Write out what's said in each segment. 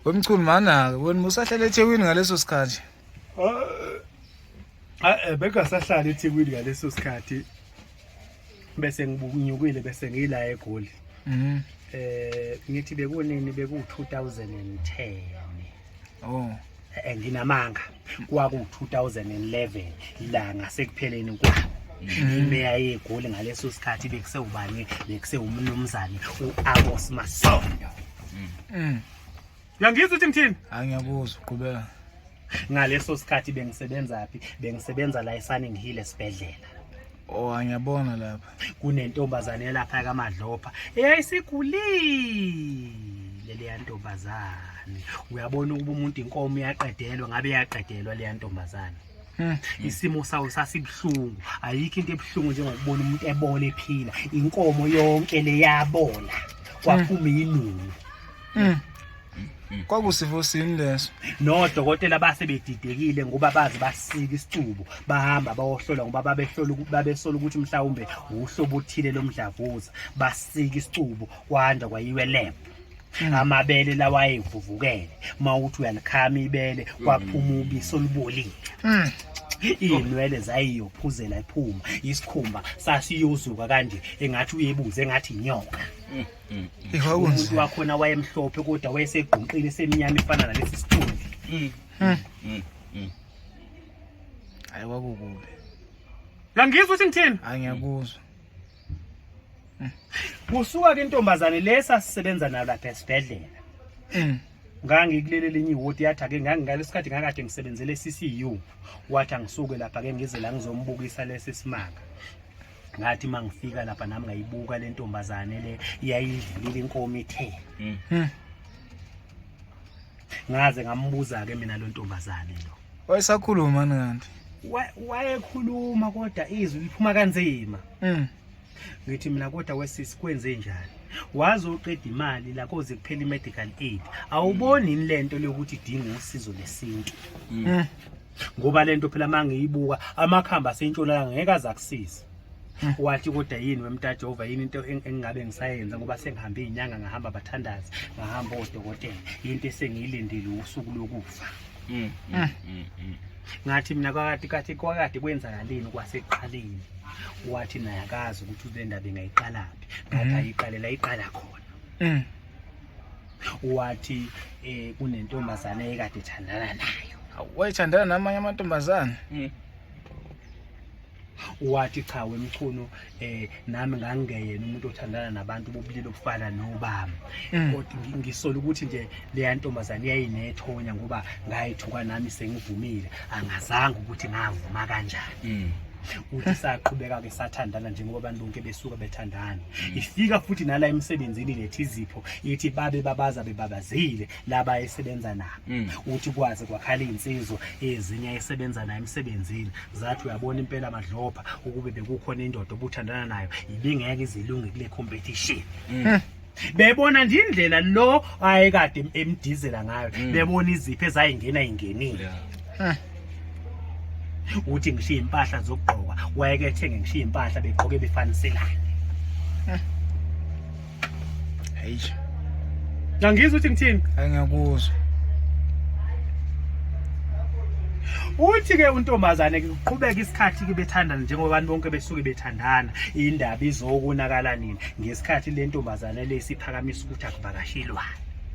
wemchunu manake wena musahlala ethekwini ngaleso sikhathi ah, eh, bekungasahlala ethekwini ngaleso sikhathi bese ngibunyukile bese ngila egoli mhm. eh ngithi bekunini beku 2010 oh eh, nginamanga kwaku-2011 la ngasekupheleni kwawo mm-hmm. imeya yegoli ngaleso sikhathi bekusewubani bekusewumnumzane u-abos masondo mm. uyangizwa ukuthi ngithini angiyakuzwa uqhubeka ngaleso sikhathi bengisebenzaphi bengisebenza la esaningi hile esibhedlela Oh ngiyabona lapha. Kunentombazane yalapha kaMadlopha eyayisigulile leya ntombazane. Uyabona ukuba umuntu inkomo yaqedelwa ngabe yaqedelwa leya ntombazane. Hmm. Isimo sawo sasibuhlungu. Ayikho into ebuhlungu njengokubona umuntu ebona ephila. Inkomo yonke leyabola. Kwaphuma hmm. inunu. Hmm. kwakusifo sini leso nodokotela base bedidekile ngoba bazi basika isicubo bahamba bawohlola ngoba babehlola babesola ukuthi mhlawumbe uhlobo othile lomdlavuza basika isicubo kwanda kwayiwe lab hmm. amabele lawayevuvukele mawuthi uyalikhama ibele kwaphuma hmm. ubisi olubolile hmm. iy'nwele zayiyophuzela iphuma isikhumba sasiyozuka kanje engathi uyebuze engathi inyoka Mm, mm. Ihwa umuntu kunzima. wakhona wayemhlophe kodwa wayesegqunqile esemnyama efana nalesi sithunzi Mm, Hmm. mm, mm. Hayi kwakukubi. langizwa ukuthi ngithini Hayi ngiyakuzwa. kusuka ke intombazane le sasisebenza nayo lapha esibhedlela Mm. ngangikulele linye ihoti yathi ake ngangingalesikhathi ngakade ngisebenzele CCU wathi angisuke lapha ke ngize la ngizombukisa lesi simanga ngathi uma ngifika lapha nami ngayibuka le ntombazane le yayidlulile inkomo ithe hmm. Hmm. ngaze ngambuza-ke mina lo ntombazane lo wayesakhuluma ni kanti wayekhuluma kodwa izwi liphuma kanzima hmm. ngithi mina kodwa wesisi kwenze njani waze uqeda imali la koze kuphela i-medical aid awuboni yini le nto leyokuthi idinga usizo lesintu ngoba lento phela mangiyibuka amakhamba asentshonalanga ngeke azakusiza hmm. wathi kodwa yini wemtajova yini into engingabe ngisayenza ngoba sengihambe izinyanga ngahamba abathandazi ngahamba odokotela into esengiyilindile usuku lokufa hmm, hmm, ngathi mina kwakati kathi kwakati kwenzakalini kwasekuqaleni wathi naye akazi ukuthi le ndaba ingayiqalaphi ngathi ayiqalela iqala khona wathi eh kunentombazane ekade thandana nayo wayethandana namanye amantombazane mm. wathi cha wemchunu eh nami ngangeyena umuntu othandana nabantu bobulili obufana nobami mm. kodwa ngisola ukuthi nje leya ntombazane yayinethonya ngoba ngayithuka nami sengivumile angazanga ukuthi ngavuma kanjani mm. uthi saqhubeka ke sathandana njengoba abantu bonke besuka bethandana mm. ifika futhi nala emsebenzini lethi izipho ithi babe babaza bebabazile laba esebenza nabo mm. uthi kwaze kwakhala insizwa ezinye esebenza nayo emsebenzini zathi uyabona impela madlopha ukube bekukhona indoda obuthandana nayo ibingeke izilunge kule competition mm. bebona nje indlela lo ayekade emdizela ngayo mm. bebona izipho ezayingena ingenile uthi ngishiye impahla zokugqoka wayeke ethenge ngishiye impahla begqoke befaniselane hayi ngangizwa uthi ngithini angiyakuzwa uthi ke untombazane kuqhubeka isikhathi ke bethandana njengoba abantu bonke besuke bethandana indaba izokunakala nini ngesikhathi le ntombazane le siphakamisa ukuthi akuvakashelwa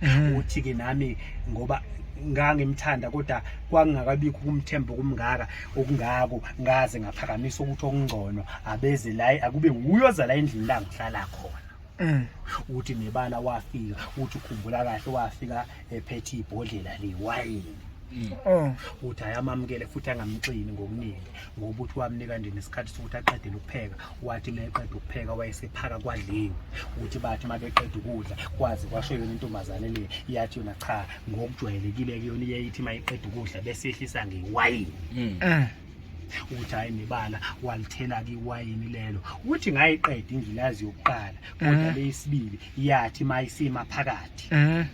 mm. uthi ke nami ngoba ngangimthanda kodwa kwakungakabikho ukumthemba okumngaka okungako ngaze ngaphakamisa ukuthi okungcono abeze la akube wuyo za la endlini la ngihlala khona mm. uthi nebala wafika uthi ukhumbula kahle wafika ephethe ibhodlela lewayini mm. oh. uthi ayamamukele futhi angamxini ngokuningi ngoba ukuthi wamnika nje nesikhathi sokuthi aqedele ukupheka wathi uma eqeda ukupheka wayesephaka kwadliwe ukuthi bathi uma beqeda ukudla kwazi kwasho yona intombazane le yathi yona cha ngokujwayelekile kuyona iyayithi uma iqeda ukudla bese yehlisa ngewayini hmm. eh. ukuthi hhayi nebala walithela-ke iwayini lelo ukuthi ngayiqeda ingilazi yokuqala kodwa eh. leyisibili yathi uma isima phakathi eh.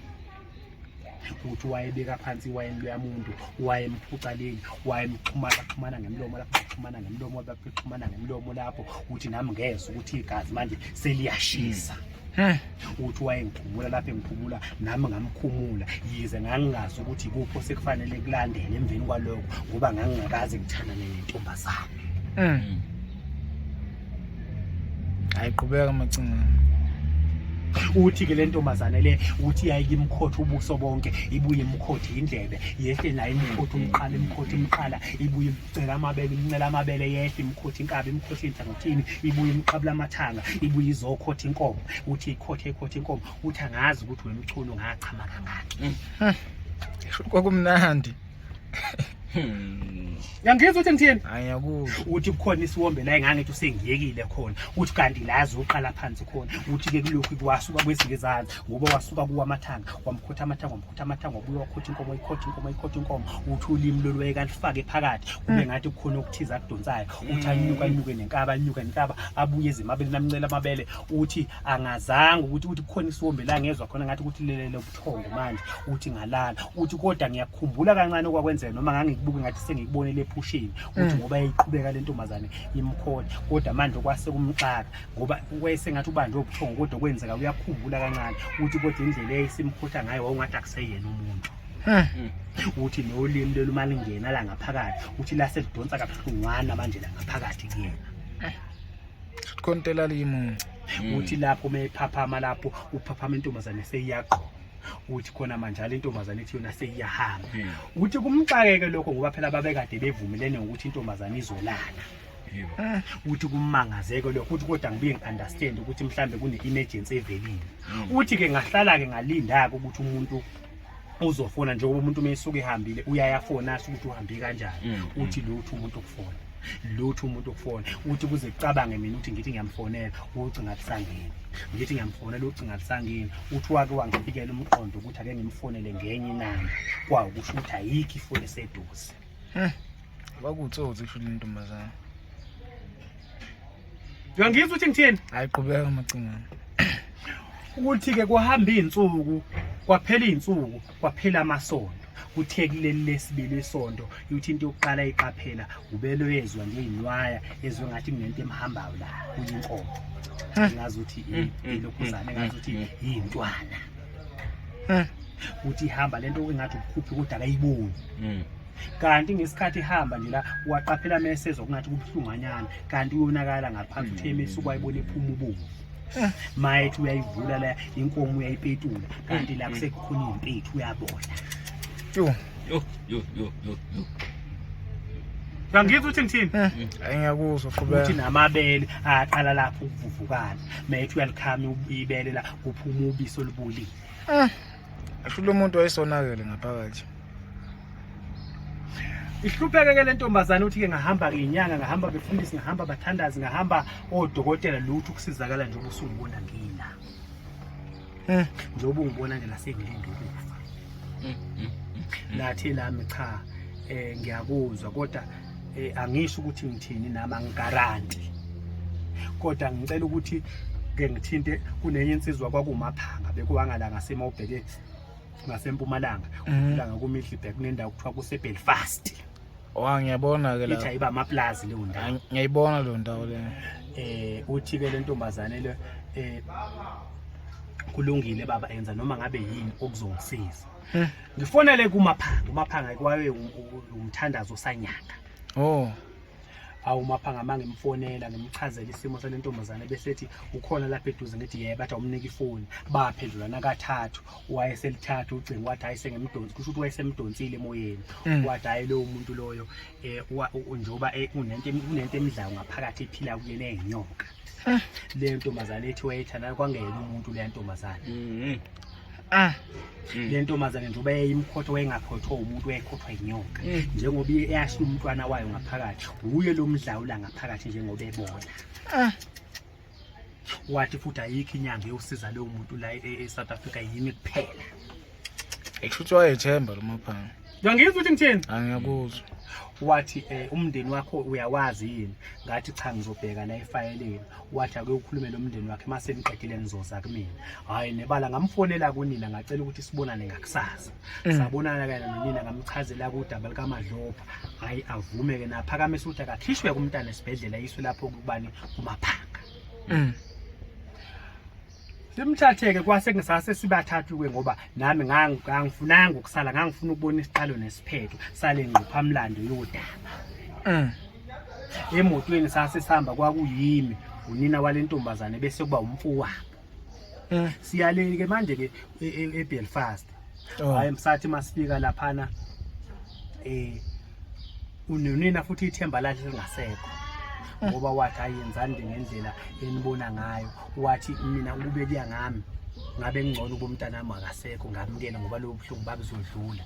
ukuthi wayebeka phansi iwayini luyamuntu wayemphucaleni wayemxhumana xhumana ngemlomo lapho baxhumana ngemlomo baxhumana ngemlomo lapho ukuthi nami ngezwa ukuthi igazi manje seliyashisa mm. uthi wayengikhumula lapho engikhumula nami ngamkhumula yize ngangingazi ukuthi ikuphi osekufanele kulandele emveni kwaloko ngoba ngangingakaze ngithandane nentombazane mm. hayi qhubeka macingana uthi ke le ntombazane le uthi yayike imkhotha ubuso bonke ibuye imkhotha indlebe yehle naye imkhotha umqala imkhotha imqala ibuye imcela amabele imncela amabele yehle imkhotha inkabi imkhotha inhlangothini ibuye imqabula amathanga ibuye izokhotha inkomo uthi ikhotha ikhotha inkomo uthi angazi ukuthi wemchunu ngachama kangaki hmm. kwakumnandi Yangizwa ukuthi ngithini? Ayakuzwa. Uthi kukhona isiwombe la engangithi usengiyekile khona. Uthi kanti lazi uqala phansi khona. Uthi ke kulokhu kwasuka kwezinye izandla ngoba wasuka kuwa amathanga, wamkhotha amathanga, wamkhotha amathanga, wabuya wakhotha inkomo, ikhotha inkomo, ikhotha inkomo. Uthi ulimi lolwaye kalifake phakathi. Kube ngathi kukhona okuthiza kudonsayo. Uthi anyuka anyuke nenkaba, anyuke nenkaba, abuye ezimabele namncela amabele. Uthi angazanga ukuthi uthi kukhona isiwombe la ngezwa khona ngathi ukuthi lelele ubuthongo manje uthi ngalala uthi kodwa ngiyakhumbula kancane okwakwenzeka noma ngangikubuke ngathi sengikubonele ephusheni uthi mm. ngoba yayiqhubeka le ntombazane imkhona kodwa manje kwase kumxaka ngoba wayesengathi ubanjwe ubuthongo kodwa kwenzeka uyakhumbula kancane uthi kodwa indlela eyayisimkhotha ngayo wawungathi akuseyena umuntu hmm. Hmm. uthi nolimi lelo uma lingena la ngaphakathi uthi laselidonsa kabuhlungwana manje la ngaphakathi kuyena eh. Kontela limunci. Mm. Uthi lapho uma ephaphama lapho uphaphama intombazane seyiyaqoma. uthi khona manje ale ntombazane ethi yona seyiyahamba hmm. uthi kumxakeke lokho ngoba phela babekade bevumelene ngokuthi intombazane izolala hmm. uthi kumangazeke lokho uthi kodwa ngibuye ngi-understand ukuthi mhlawumbe kune-emergency evelile hmm. uthi-ke ngahlala-ke ngalinda-ke ukuthi umuntu uzofona njengoba umuntu uma esuke ehambile uyayafona asho ukuthi uhambe kanjani mm, mm. uthi lutho umuntu okufona lutho umuntu okufona uthi kuze kucabange mina ukuthi ngithi ngiyamfonela ucinga kusangeni ngithi ngiyamfonela ucinga kusangeni uthi wake wangifikela umqondo ukuthi ake ngimfonele ngenye inamba kwawo kusho ukuthi ayikho ifoni eseduze Hmm. Kwakutsotsi kusho lentombazana. Uyangizwa ukuthi ngithini? Hayi qhubeka macingana. Ukuthi ke kuhamba izinsuku, kwaphela izinsuku, kwaphela amasonto. kuthe kuleli lesibili isonto ukuthi into yokuqala iqaphela ubelwezwa nje inwaya ezwe ngathi kunento emhambayo la kuyinkomo ngazi ukuthi ilokhuzane ngazi ukuthi yintwana uthi ihamba lento engathi ukukhuphi kodwa akayiboni mm. kanti ngesikhathi ihamba nje la waqaphela mesezwa kungathi kubuhlunganyana kanti uyonakala ngaphansi uthe mm. esuku wayibona ephuma ubovu mayethi uyayivula la inkomo uyayipetula kanti la mm. kusekhona impethu uyabona Yo yo yo yo yo. Uyangizwa uthi ngithini? Eh, hayi ngiyakuzwa fubela. Uthi namabele aqala lapho ukuvuvukana. Methi uyalikhama ibele la kuphuma ubiso olubulile. Eh. Asho lo muntu wayesonakele ngaphakathi. ihlupheke ke le ntombazane uthi-ke ngahamba ngenyanga ngahamba befundisi ngahamba bathandazi ngahamba odokotela lutho ukusizakala njengoba usungibona ngila Eh, njengoba ungibona nje la sengilinde ukufa. Mm, mm, mm, Nathi lami cha eh ngiyakuzwa kodwa eh, angisho ukuthi ngithini nami angigaranti. Kodwa ngicela ukuthi ke ngithinte kunenye insizwa kwakumaphanga bekuwangala ngasema ubheke ngasempumalanga. Ulanga kuMiddelburg kunendawo kuthiwa kuseBelfast. Wa ngiyabona ke la. Ithi ayiba amaplazi leyo ndawo. Ngiyayibona leyo ndawo le. Eh uthi ke lentombazane le eh kulungile baba enza noma ngabe yini okuzongisiza. Hmm. Ngifonele kumaphanga, umaphanga kwawe um, um, umthandazo osanyanga. Oh. awumaphanga mangimfonela ngimchazela isimo salentombazane bese ethi ukhona lapha eduze ngithi yebo bathi awumnika ifoni baphendulana kathathu wayeselithatha ucingo wathi hayi sengimdonsi kusho ukuthi wayesemdonsile emoyeni mm. wathi hayi lowo muntu loyo um njengoba eh, unento emidlayo ngaphakathi ephila kuyena eyinyoka ah. le ntombazane ethi wayethanda kwangeyena umuntu leya ntombazane mm-hmm. ah. mm. le ntombazane njengoba yayimkhotho wayengakhothwa umuntu wayekhothwa yinyoka mm. njengoba eyashiya umntwana wayo ngaphakathi wuye lo mdlawula ngaphakathi njengoba ebona ah. wathi futhi ayikho inyanga yosiza leyo muntu la e-south e-, africa yimi kuphela ekushuthi wayethemba lo maphanga ngangizwa ukuthi ngithini angiyakuzwa wathi um umndeni wakho uyawazi yini ngathi cha ngizobheka la efayeleni wathi ake ukhulume lo mndeni wakhe uma seniqedile nizoza kumina hhayi nebala ngamfonela kunina ngacela ukuthi sibonane ngakusasa Mm. sabonana kanye nonina ngamchazela kudaba likamadlopha hayi avume ke naphakamisa ukuthi akakhishwe kumntana esibhedlela yiswe lapho kubani kumaphanga mm. simthatheke kwase ngisase sibathathu ke ngoba nami ngangifunanga ukusala ngangifuna ukubona isiqalo nesiphetho sale ngqophamlando yodaba mm. emotweni sase sihamba kwakuyimi unina walentombazane bese kuba umfowabo Eh. siyaleni ke manje ke e- e- eBelfast Oh. hayi msathi masifika laphana eh unonina futhi ithemba lakhe lingasekho ngoba wathi ayenzani nje ngendlela enibona ngayo wathi mina ukube kuya ngami ngabe ngcono ubomntanami akasekho ngamukele ngoba lobo buhlungu babuzodlula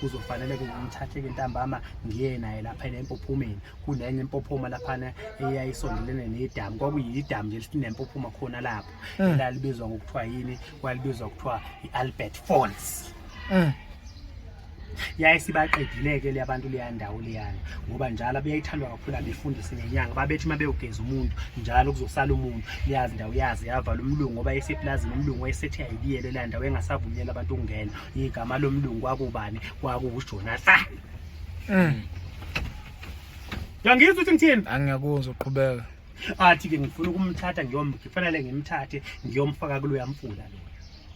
kuzofanele-ke ngimthathe-ke ntambama ngiye naye lapha empophumeni kunenye impophoma laphana eyayisondelene nedamu kwakuyidamu nje linempophoma khona lapho eh. elalibizwa ngokuthiwa yini kwalibizwa kuthiwa i-albert falls eh. yaye sibaqedile-ke le abantu leya ndawo leyana ngoba njalo abeyayithandwa kakhulu abefundisi nenyanga babethi uma bewugeza umuntu njalo kuzosala umuntu leyazi ndawo yazi yavala umlungu ngoba esepulazini umlungu wayesethi ayibiyele leya ndawo engasavunyela abantu ukungena igama lomlungu kwakubani kwakuwujonathan mm. yangizwa ukuthi ngithini angiyakuzwa uqhubeka athi ke ngifuna ukumthatha ngiyomfanele ngimthathe ngiyomfaka kuloya mfula lo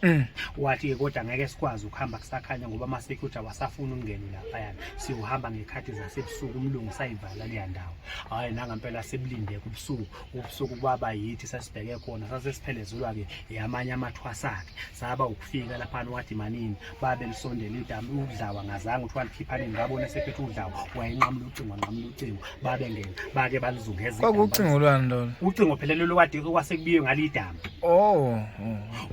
Mm. wathi ke kodwa ngeke sikwazi ukuhamba kusakhanya ngoba ama security awasafuni ukungena lapha yana siyohamba ngekhathi zasebusuku umlungu sayivala leya ndawo hayi nanga impela sibulinde kubusuku ubusuku kwaba yithi sasibheke khona sasesiphelezelwa-ke yamanye amathwasa-ke saba ukufika laphana wathi manini babe lisondela idami udlawa ngazange ukuthi walikhiphani ngabona sephethe udlawa wayenqamula ucingo wanqamula ucingo babe ngena bake balizungeza kwakucingo lwani lona ucingo phela lelo kade kwasekubiwe ngalidami oh, oh.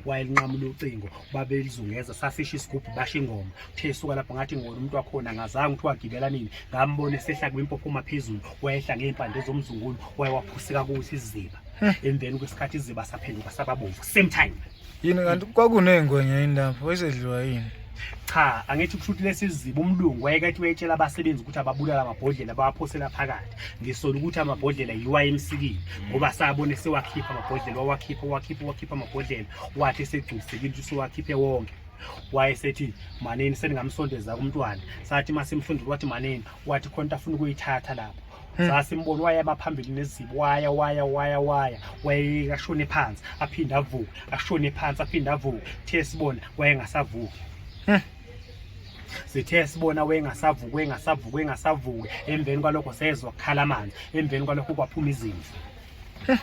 wayelinqamula ucingo babelizungeza safisha isigubhu basha ingoma Uthe suka lapho ngathi ngibona umuntu wakhona ngazange ukuthi wagibela nini ngambona esehla kwimpopho phezulu wayehla ngey'mpande zomzungulu waye waphuseka kuthi iziba emveni kwesikhathi iziba saphenduka sababomvu same time yini kanti kwakuney'ngwenya yini lapho esedliwa yini cha angithi kushuthi lesiziba umlungu wayekethi wayetshela abasebenzi ukuthi ababulala amabhodlela bawaphosela phakathi ngisola ukuthi amabhodlela yiwa emsikile ngoba sabone sewakhipha amabhodlela wawakhipha wakhipha wakhipha amabhodlela wathi esegculisekile ukuthi sewakhiphe wonke wayesethi manini seningamsondeza kumntwana sathi masimfundile wathi manini wathi khona into afuna ukuyithatha lapho Hmm. sasimbona wayaba phambili nezibo waya waya waya waya wayeka shone phansi aphinde avuke ashone phansi aphinde avuke the sibona wayengasavuki hmm. sithe sibona wengasavuki wengasavuki wengasavuki emveni kwalokho sezwa kukhala amanzi emveni kwalokho kwaphuma izimvu hmm.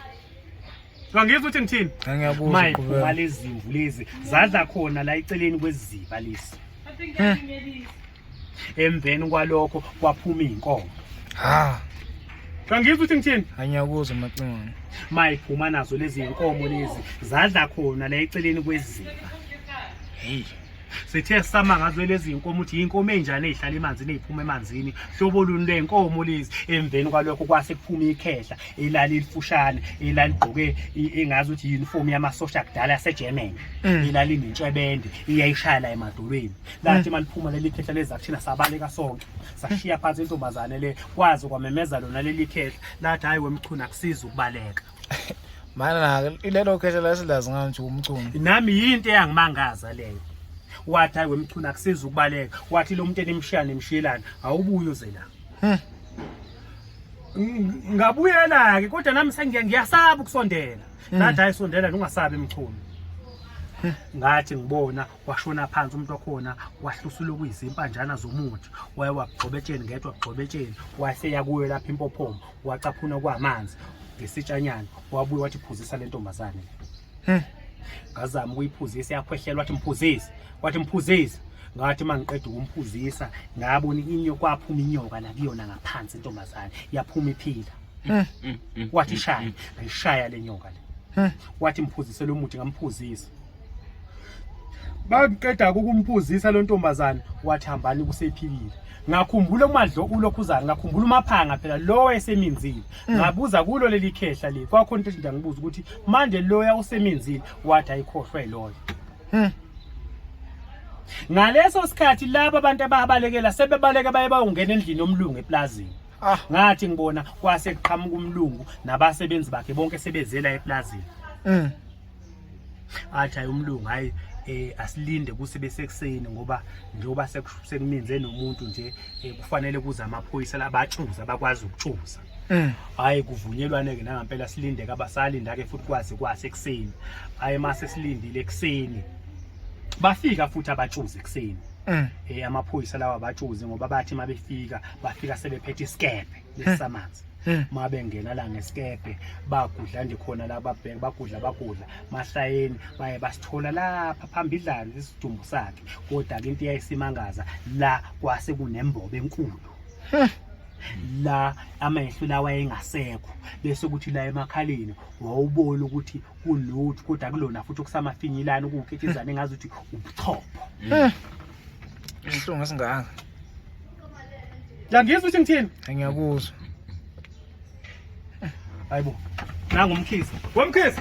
Ngangizwa ukuthi ngithini? Ngiyabuza. My khumala ezimvu lezi zadla khona la eceleni kweziba lesi. Emveni kwalokho kwaphuma inkomo. Ha. Ngangizwa ukuthi ngithini? Angiyakuzwa macingwane. My phuma nazo lezi inkomo lezi zadla khona la eceleni kweziba. Hey. sithe sama ngazo lezi nkomo ukuthi yinkomo enjani ezihlala emanzini eziphuma emanzini hlobo luni lenkomo lezi emveni kwalokho kwase kuphuma ikhehla elali lifushane elali gqoke engazi ukuthi uniform yamasosha kudala yaseGermany mm. elali nentshebende iyayishaya la emadolweni lathi mm. maliphuma leli khehla lezakuthina sabaleka sonke sashiya phansi intombazane le kwazi kwamemeza lona leli khehla lathi hayi wemchuna kusiza ukubaleka mana ke ilelo khehla lasilazi ngani nje umchunu nami yinto eyangimangaza leyo wathi hayi wemchunu akusiza ukubaleka wathi lo muntu enimshiya nimshiyelana awubuye uze la hmm. ngabuyela ke kodwa nami sengiya ngiyasaba ukusondela hmm. ngathi hayi sondela ungasabi mchunu hmm. ngathi ngibona washona phansi umuntu wakhona wahlusula okuyizimpandjana zomuthi waye wagxobetsheni ngedwa gxobetsheni wase yakuyo lapha impophomo wacaphuna kwamanzi ngesitshanyana wabuye wathi phuzisa le ntombazane hmm. ngazama ukuyiphuzisa yakhwehlelwa wathi mphuzise wathi mphuzise ngathi uma ngiqeda ukumphuzisa ngabona inyo kwaphuma inyoka la kuyona ngaphansi intombazane yaphuma iphila hmm. Hmm. wathi shaya ngayishaya le nyoka le wathi mphuzisele umuthi ngamphuzisa bakuqeda ukumphuzisa lo ntombazane wathi hambani kusephilile ngakhumbula umadlo ulokhu uzayo ngakhumbula umaphanga phela lo wayeseminzile mm. ngabuza kulo leli khehla le kwakhona into nje ngibuza ukuthi manje loya useminzile wathi ayikhohlwe loyo hmm. ngaleso sikhathi laba abantu ababalekela sebebaleke baye bayongena endlini yomlungu eplazini ah. ngathi ngibona kwase kuqhamuka umlungu nabasebenzi bakhe bonke sebezela eplazini mm. athi hayi umlungu hayi eh asilinde kuse besekuseni ngoba njengoba sekuminze nomuntu nje eh, kufanele kuze amaphoyisa labatshuza bakwazi ukutshuza mm. hayi kuvunyelwane ke nangampela silinde ke abasalinda ke futhi kwazi kwase ekuseni hayi mase silindile ekuseni bafika futhi abatshuze ekuseni mm. eh amaphoyisa lawa abatshuze ngoba bathi mabefika bafika sebephethe isikebhe yesamanzi uma bengena la ngesikebhe bagudla nje khona la babheke bagudla bagudla masayeni baye basithola lapha phambidlana isidumbu sakhe kodwa ke into yayisimangaza la kwase kunembobo enkulu la amehlo lawa engasekho bese ukuthi la emakhaleni wawubona ukuthi kulutho kodwa kulona futhi okusamafinyilana ukukhetshezana engazi ukuthi ubuchopho Ihlungu esingaka. Yangizwa ukuthi ngithini? Ngiyakuzwa. Hayibo. Nangu umkhisi. Womkhisi.